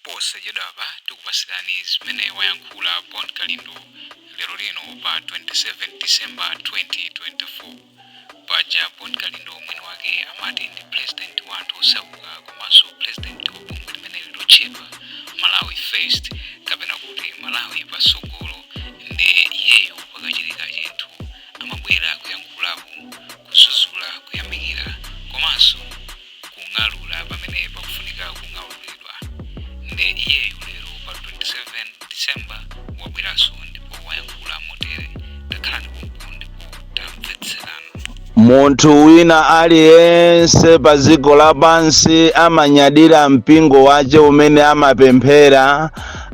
Posachedwapa tikupasirani zimene wayankhula Bon Kalindo lero lino pa 27 December 2024. Paja Bon Kalindo mwini wake amati ndi President wa anthu osauka komanso President wa bungwe limeneli lotchedwa Malawi First kapena kuti Malawi Patsogolo nde iyeyu pakachitika chinthu amabwera kuyankhulapo, kudzudzula, kuyamikira komanso kung'alura pamene pakufunika kung'aluridwa nde iyeyu lero pa 27 december wabweranso ndipo wayankhula motere takhalani pompo ndipo tamvetserani Munthu wina aliyense pa dziko lapansi amanyadira mpingo wace umene amapemphera,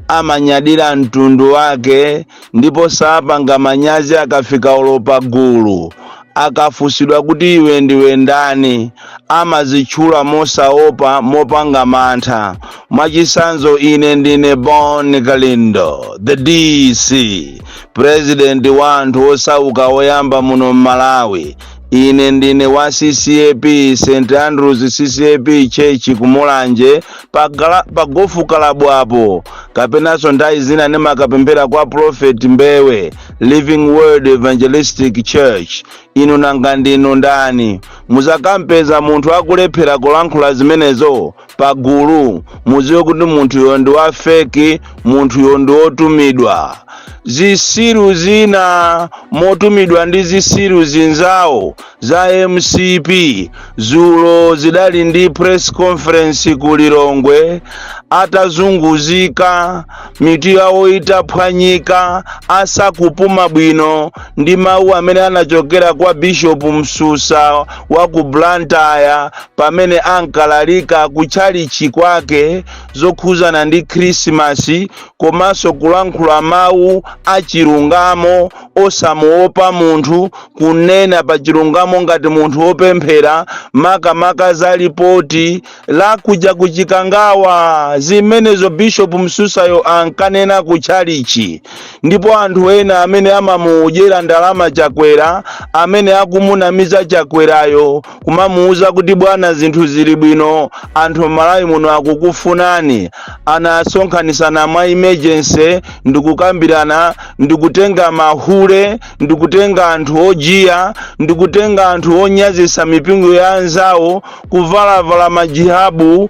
amanyadira mtundu wake, ndipo sapanga manyazi akafika olo pagulu. Akafunsidwa kuti iwe ndiwe ndani, amadzitchula mosaopa, mopanda mantha. Mwachitsanzo, Ine ndine Bon Kalindo, the DC, president wa anthu osauka oyamba muno m'Malawi. Ine ndine wa CCAP, St Andrews CCAP Church ku Mulanje, pa gofu kalabu apo, kapenanso nthawi zina ndimakapemphera kwa Prophet Mbewe. living word evangelistic church inu nanga ndinu ndani muzakampeza munthu akulephera kulankhula zimenezo pagulu muziwe kuti munthuyo ndi wa feki munthuyo ndi wotumidwa zisiru zina motumidwa ndi zisiru zinzawo za mcp dzulo zidali ndi press conference ku lilongwe atazunguzika mitu yawo itaphwanyika asakupuma bwino ndi mawu amene anachokera kwa bishopu msusa wa ku blantyre pamene ankalalika ku tchalichi kwake zokhuzana ndi khrisimasi komanso kulankhula mawu achilungamo osamuopa munthu, kunena pa chilungamo ngati munthu wopemphera, makamaka za lipoti la kuja ku Chikangawa, zimenezo Bishop Msusayo ankanena ku tchalichi. Ndipo anthu ena amene amamudyera ndalama Chakwera, amene akumunamiza Chakwerayo, kumamuuza kuti bwana zinthu zili bwino anthu m'malawi muno akukufunani anasonkhanisana mwa emergency ndikukambirana ndikutenga mahule ndikutenga anthu ojiya ndikutenga anthu onyazisa mipingo ya anzawo kuvalavala majihabu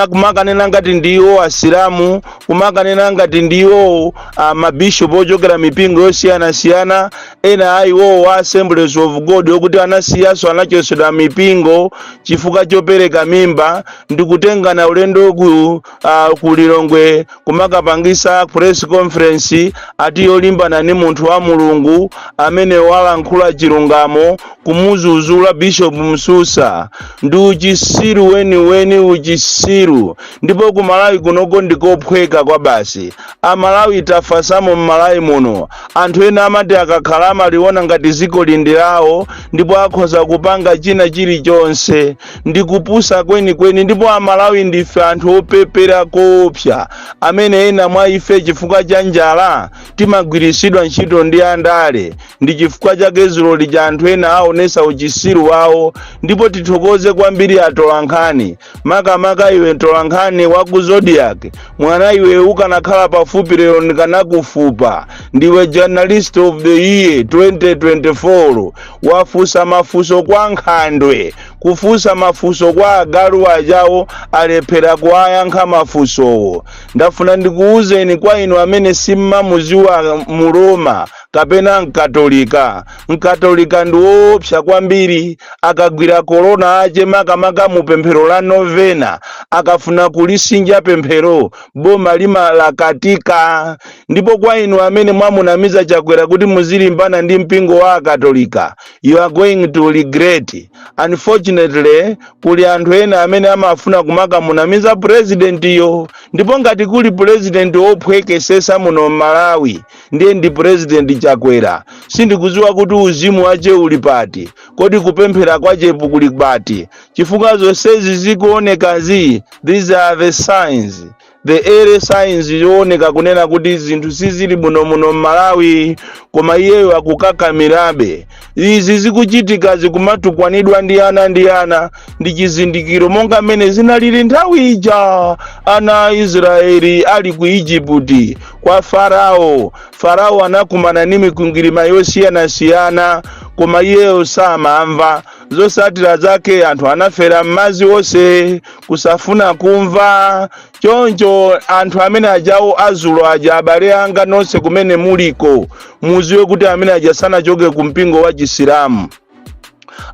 kumakanena ngati ndiwo asilamu kumakanena ngati ndiwo uh, mabishopu ochokera mipingo yosiyanasiyana ena a iwowo wa assemblies of god okuti anasiyanso anachosedwa mipingo chifukwa chopereka mimba ndi kutengana ulendo ku, uh, ku lilongwe kumakapangisa press conference ati yolimbana ndi munthu wa mulungu amene walankhula chilungamo kumuzuzula bishop msusa ndi uchisiru weniweni uchisiru ndipo ku malawi kunoko ndikophweka kwa basi amalawi tafasamo mmalawi muno anthu ena amati akakhala amaliona ngati ziko ili ndi lawo ndipo akhoza kupanga china chilichonse ndi kupusa kwenikweni ndipo amalawi ndife anthu opepera koopsa amene ena mwa ife chifukwa cha njala timagwiritsidwa ntchito ndi andale ndi chifukwa chake zulo lija anthu ena aonesa uchisiru wawo ndipo tithokoze kwambiri atolankhani makamaka iwe mtolankhani wa ku zodiak mwana iwe ukanakhala pafupi lero ndikanakufupa ndiwe journalist of the year 2024 wafusa mafuso kwa nkhandwe kufusa mafuso kwa agalu ajawo alephera kuwayankha mafusowo ndafuna ndikuwuzeni kwa inu amene simmamuziwa mroma kapena mkatolika mkatolika ndi woopsa kwambiri akagwira korona ache makamaka mu pemphero la novena akafuna kulisinja pemphero boma limalakatika ndipo kwa inu amene mwamunamiza chakwera kuti muzilimbana ndi mpingo wa akatolika you are going to regret unfortunately kuli anthu ena amene amafuna kumakamunamiza purezidentiyo ndipo ngati kuli purezidenti wophwekesesa muno m'malawi ndiye ndi president chakwera sindikuziwa kuti uzimu wache uli pati kodi kupemphera kwachepo kuli pati chifukwa zonsezi zikuonekazi these are the signs the early signs zooneka kunena kuti zinthu sizili muno muno mmalawi koma iyeyo akukakamirabe izi zikuchitikazi kumatukwanidwa ndi ana ndi ana ndi chizindikiro monga mmene zinalili nthawi ija ana a israeli ali ku ijiputi kwa farao farao anakumana ndi mikwingwirima yosiyanasiyana koma iyeyo samamva zosatira zake anthu anafera m'madzi onse kusafuna kumva choncho anthu amene ajawo azulo aja abale anga nonse kumene muliko muziwe kuti amene aja sanachoke ku mpingo wa chisilamu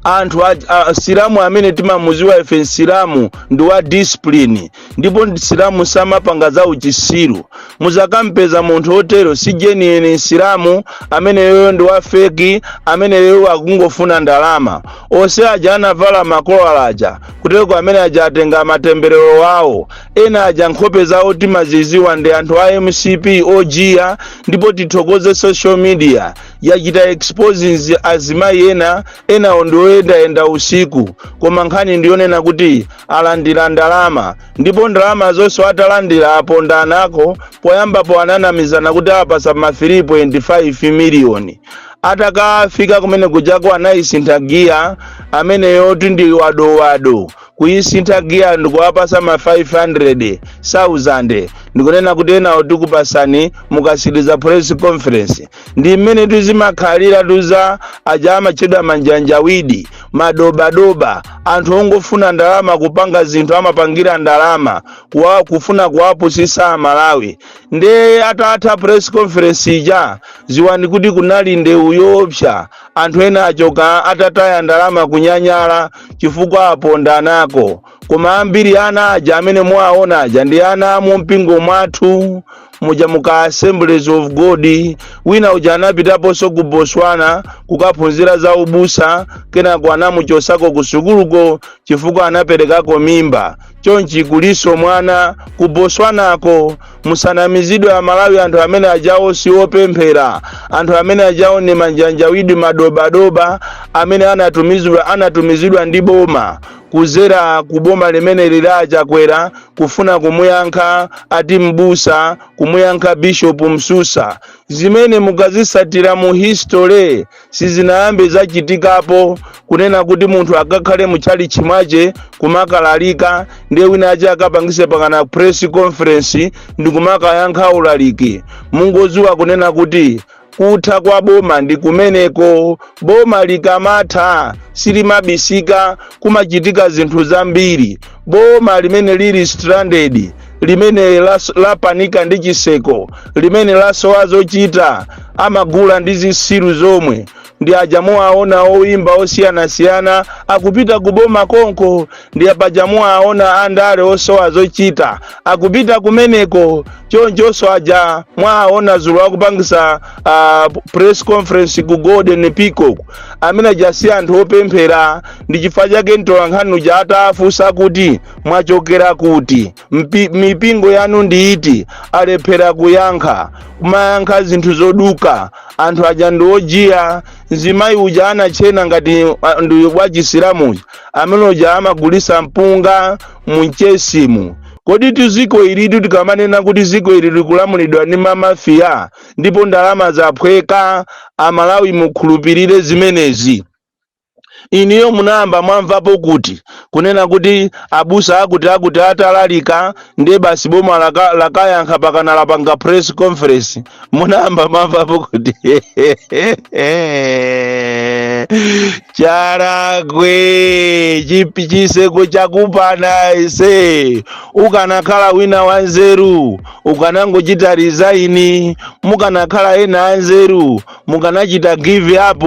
anthu msilamu amene timamuziwa ife msilamu ndi wa discipline ndipo msilamu samapanga za uchisiru muzakampeza munthu otero si genuine msilamu amene yoyo ndi wa feki amene yoyo akungofuna ndalama onse aja anavala makolala aja Kutereko amene aja atenga matemberero wawo. Ena aja nkhope zawo timaziziwa ndi anthu a mcp ojiya ndipo tithokoze social media yachita exposing azimayi ena enawo ndi oyendayenda usiku koma nkhani ndiyonena kuti alandira ndalama ndipo ndalama zonso atalandira apondanako poyambapo ananamizana kuti awapasa ma 3.5 miliyoni atakafika kumene kujako anayisintha giya ameneyoti ndi wadowado kuyisintha giya ndikuwapasa ma 500,000 ndikunena kuti enawo tikupasani mukasiriza press conference ndi mmene zimakhalira atuza aja amatchedwa manjanjawidi madobadoba anthu ongofuna ndalama kupanga zinthu amapangira ndalama kufuna kuwapusisa amalawi nde atatha press conference ija ziwani kuti kunali ndewu yoopsa anthu ena achoka atataya ndalama kunyanyala chifukwa apondanako koma ambiri ana aja amene muwaona aja ndi ana a mu mpingo mwathu muja mu ka assemblies of god wina uja anapitaponso ku botswana kukaphunzira za ubusa kenako anamuchosako ku sukuluko chifukwa anaperekako mimba chonchi kulinso mwana ku botswanako musanamizidwe amalawi anthu amene ajawo siwopemphera anthu amene ajawo ni manjanjawidi madobadoba amene anatumizida anatumizidwa ndi boma kuzera ku boma limene lili la Chakwera kufuna kumuyankha ati mbusa kumuyankha bishopu msusa zimene mukazisatira mu history Sizinayambe zachitikapo kunena kuti munthu akakhale mu tchalitchi mwache kumakalalika ndiye wina wache akapangise kanakake ka press conference ndikumakayankha ulaliki. Mungoziwa kunena kuti kutha kwa boma ndi kumeneko. Boma likamatha silimabisika, kumachitika zinthu zambiri. boma limene lili stranded limene lapanika ndi chiseko limene lasowa zochita amagula ndi zisiru zomwe ndi paja muwaona oimba osiyanasiyana akupita ku boma konko ndi paja muwaona andale osowa zochita akupita kumeneko chonchonso aja mwaona zulo akupangisa uh, press conference ku golden peacock amene aja si anthu opemphera ndi chifukwa chake mtolankhani uja atafunsa kuti mwachokera kuti mipingo yanu ndi iti alephera kuyankha kumayankha zinthu zoduka anthu aja ndi ojiya mzimayi uja anatchena ngati ah, ndi wa chisilamu amene uja amagulisa mpunga mu Mchesimu koditu ziko ilitu tikamanena kuti ziko ili likulamulidwa ndi mamafiya ndipo ndalama zaphweka amalawi mukhulupirire zimenezi Inuyo munayamba mwamvapo kuti kunena kuti abusa akuti akuti atalalika ndiye basi boma laka, lakayankha pakana lapanga press conference munayamba mwamvapo kuti charagwe chipi chiseko chakupana aise ukanakhala wina wanzeru ukanangochita resign mukanakhala ena anzeru mukanachita give up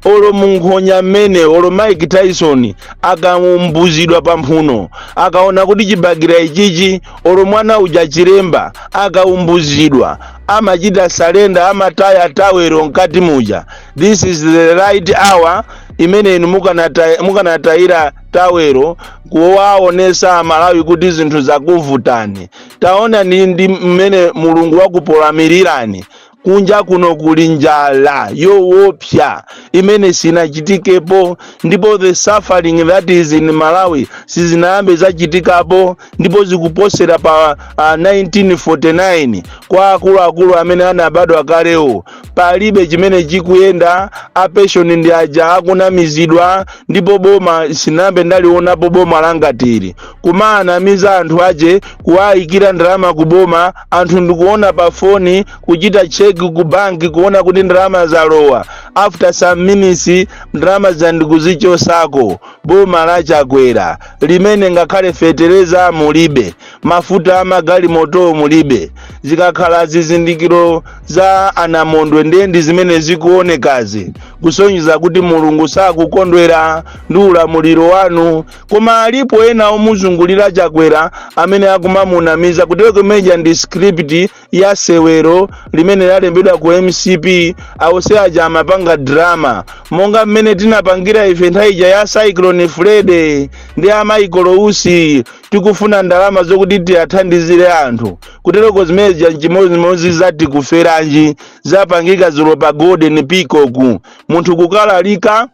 olo munkhonya mmene olo mike tyson akaumbuzidwa pamphuno akaona kuti chibagera ichichi olo mwana uja chilemba akaumbuzidwa amachita surrender amataya tawero mkati muja this is the right hour imene inu mukanata- mukanatayira tawero kuwaonesa amalawi kuti zinthu zakuvutani taonani ndi mmene mulungu wakupolamirirani kunja kuno kuli njala yowopsa imene sinachitikepo ndipo the suffering that is in malawi sizinayambe zachitikapo ndipo zikuposera pa uh, 1949 kwa akuluakulu amene anabadwa kalewo palibe chimene chikuyenda apenshoni ndi aja akunamizidwa ndipo boma sinayambe ndalionapo boma langati ili kumanamiza anthu ache kuwayikira ndalama ku boma anthu ndikuona pa foni kuchita cheki ku banki kuona kuti ndalama zalowa after some minutes ndalama zija ndikuzichosako boma la chakwera limene ngakhale fetereza mulibe mafuta a magalimotowo mulibe zikakhala zizindikiro za anamondwe ndiye ndi zimene zikuonekazi kusonyeza kuti mulungu sakukondwera ndi ulamuliro wanu Koma alipo ena omuzungulira Chakwera amene akumamunamiza kutereko zimene zija ndi script ya sewero limene lalembedwa ku mcp awose aja amapanga drama monga mmene tinapangira ife nthawi ija ya cyclone freddy ndi a michael usi tikufuna ndalama zokuti tikathandizire anthu kutereko zimene zija nchimodzimodzi za tikuferanji zapangika zulo pa golden peacock munthu kukalalika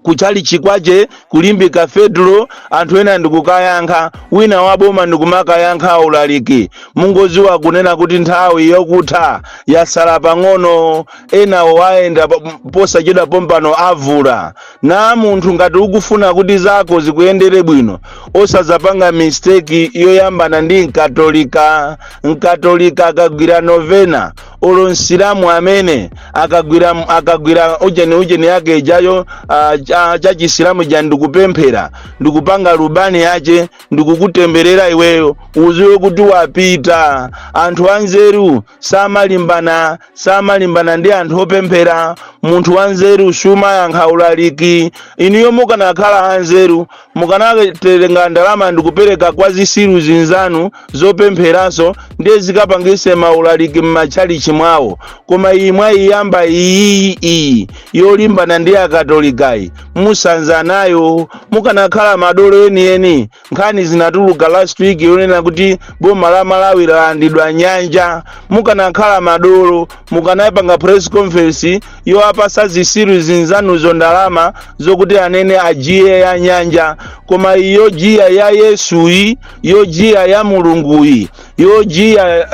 kutchalitchi kwache ku limbe cathedral anthu ena ndikukayankha wina wa boma ndikumakayankha ulaliki mungoziwa kunena kuti nthawi yokutha yasala pang'ono enawo wayenda po- posachedwa pompano avula na munthu ngati ukufuna kuti zako zikuyendere bwino osazapanga mistake yoyambana ndi mkatolika mkatolika akagwira novena olo msilamu amene akagwira akagwira ujeni ujeni yake ijayo ah, cha- cha chisilamu ja ndikupemphera ndikupanga lubani yache ndikukutemberera iweyo uziwe kuti wapita anthu anzeru samalimbana samalimbana ndi anthu opemphera munthu wanzeru sumayankha ulaliki inuyo mukanakhala anzeru mukanatenga ndalama ndikupereka kwa zisiru zinzanu zopempheranso ndiye zikapangise maulaliki m'matchalichi mwawo koma iyi mwayiyamba iyi iyi yolimbana ndi akatolikayi musanza nayo mukanakhala madolo enieni nkhani inatuluka last week yonena kuti boma la malawi lalandidwa nyanja mukanakhala madolo mukanayipanga press conference yowapasa zisiru zinzanuzo ndalama zokuti anene ajiye ya nyanja koma iyo jiya ya yesuyi yo jiya ya mulunguyi yo jiya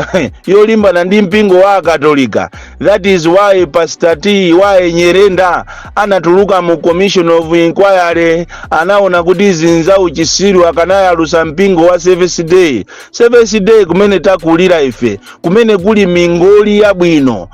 yolimbana ndi mpingo wa akatolika that is why pastor TY nyirenda anatuluka mu commission of inquiry anaona kuti zinthu za uchisiru akanayalusa mpingo wa seventh day seventh day kumene takulira ife kumene kuli mingoli yabwino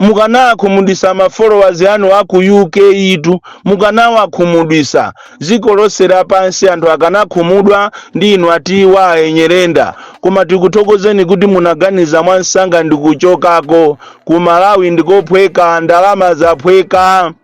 Mukanawakhumudwisa ma followers anu a ku UK tu, mukanawakhumudwisa dziko lonse lapansi anthu akanakhumudwa ndi inu a TY Nyirenda koma tikuthokozeni kuti munaganiza mwansanga ndikuchokako, ku Malawi ndi kophweka ndalama zaphweka.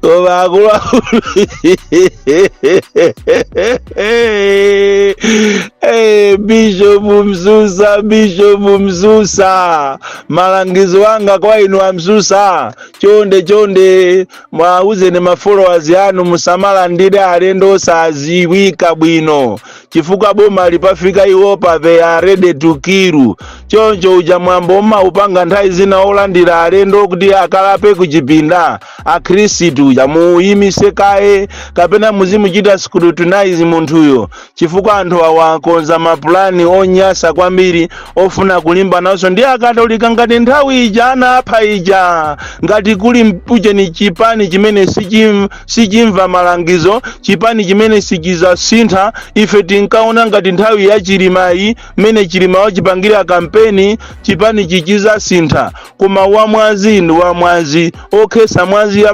koma akuluakulu bishop msusa bishop msusa malangizo anga kwa inu a msusa chonde chonde muwauze ma followers anu musamalandire alendo osadziwika bwino chifukwa boma ili pafika iwopa they are ready to kill choncho uja mwambo umaupanga nthawi zina wolandira alendo kuti akalape kuchipinda akhristu ija muuyimise kaye kapena muzimuchita scrutinize munthuyo chifukwa anthu awa akonza mapulani onyasa kwambiri ofuna kulimbananso ndi akatolika ngati nthawi ija anapha ija ngati kuli mp- ujeni chipani chimene sichim sichimva malangizo chipani chimene sichizasintha ife tinkaona ngati nthawi ya chilimayi mmene chilima wachipangira kampeni chipani chizasintha koma wamwazi ndi wamwazi okhesa mwazi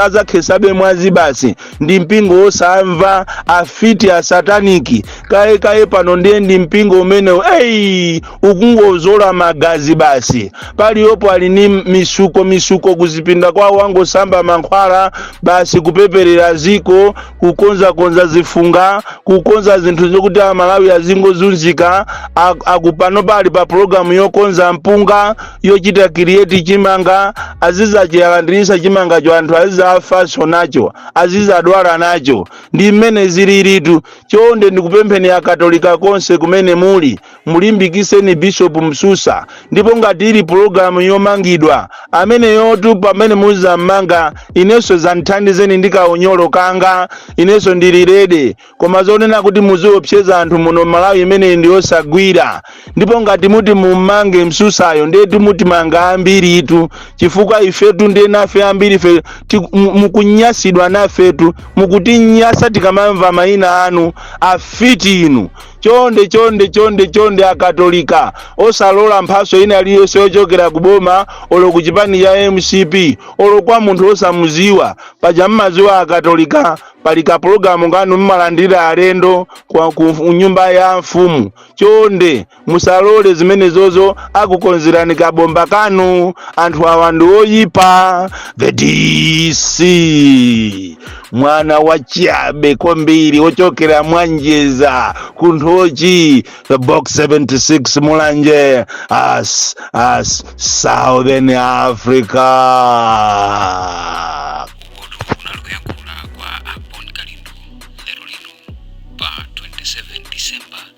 azakhesabe mwazi basi ndi mpingo wosamva afiti asataniki kaye kaye pano ndiye ndi mpingo umeneyi ukungozola magazi basi paliyopo ali ni mitsuko mitsuko kuzipinda kwawo wangosamba mankhwala basi kupeperera dziko kukonzakonza zifukwa kukonza zinthu zokuti amalawi azingozunzika apa panopa ali pa pulogalamu yokonza mpunga yochita create chimanga azizachialandirisa chimangacho anthu azizafaso nacho azizadwala nacho ndi mmene zililitu chonde ndikupempheni akatolika konse kumene muli mulimbikiseni bishop msusa ndipo ngati ili pulogalamu yomangidwa ameneyotu pamene muzammanga inenso zanditengeni ndi kaunyolo kanga inenso ndili ready koma zonena kuti muziwopseza anthu muno malawi imeneyi ndi yosagwira ndipo ngati muti mummange msusayo ndetu mutimanga ambiritu chifukwa ifetu ndiye nafe ambirife tikunyasidwa nanutu mukutinyasa tikamamva mayina anu afiti inu chonde chonde chonde chonde akatolika osalola mphatso ina iliyonse yochokera ku boma olo ku chipani cha mcp olo kwa munthu osamuziwa paja mmaziwa akatolika pali kapulogalamu kanu mmalandira alendo ku nyumba ya mfumu chonde musalole zimenezozo akukonzerani kabomba kanu anthu awa ndi oyipa the dc mwana wachabe kwambiri wochokera mwa Njeza ku nthochi the box 76 mulanje as southern africa uku kunali kuyankhula kwa a Bon Kalindo lero lino pa 27 december